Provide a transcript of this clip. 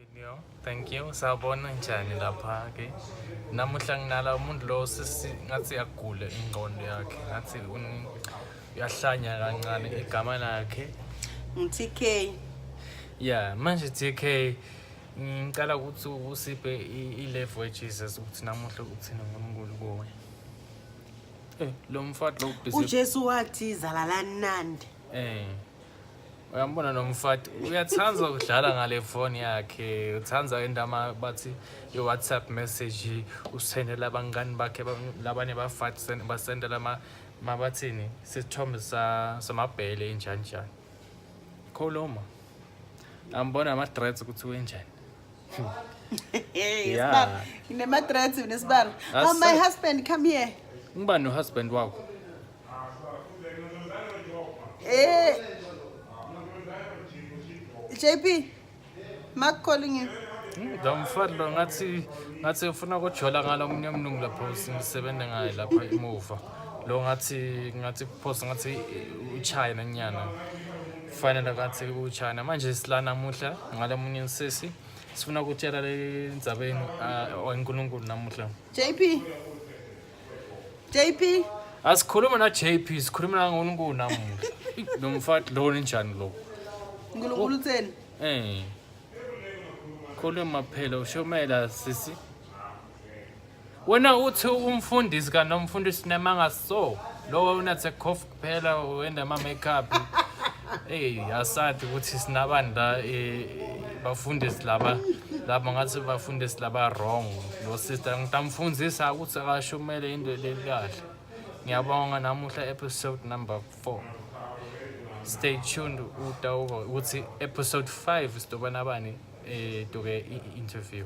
Video, thank you. Sawubona njani lapha ke? Namuhla nginala umuntu lo sisi ngathi agule ingqondo yakhe. Ngathi uyahlanya kancane igama lakhe. NguTK. Yeah, manje TK ngicela ukuthi usiphe i-level weJesus ukuthi namuhla uthini ngoNkulunkulu kuwe. Eh, lo mfati lo uJesu wathi zalalani nandi. Eh. uyambona nomfati uyathanda ukudlala ngale foni yakhe uthanda indama bathi i-whatsapp message usendela abangani bakhe labanye bafati basendela mabathini sisithombe samabhele enjani njani khuluma ambona ama-threats ukuthi wenjani yeah. nema-threats nesibalo oh, my husband come here ngiba nohusband wakho Eh. JP, Mark calling you. Ngamfani lo ngathi ngathi ngifuna ukujola ngalo munye mnungu lapho sisebenza ngaye lapha emuva. Lo ngathi ngathi post ngathi uChina nyana. Fanele ngathi uChina manje silana namuhla ngalo munye insisi. Sifuna ukutshela le ndzabeni ah, oNkulunkulu namuhla. JP, JP asikhuluma na JP sikhuluma na ngoNkulu namuhla lo mfati lo ninjani lo uNkulunkulu utheni eh khuluma phela ushomela sisi wena uthi umfundisi kanomfundisi nemanga so lowo unathe cough Phela wenda ma makeup. Hey, asati ukuthi sinabani la eh, bafundisi laba laba ngathi bafundisi laba wrong. Lo sister ngitamfundisa ukuthi akashumele into le kahle. Ngiyabonga namuhla episode number 4. Stay tuned utawuva ukuthi episode 5 sidoba nabani eh duke i- interview.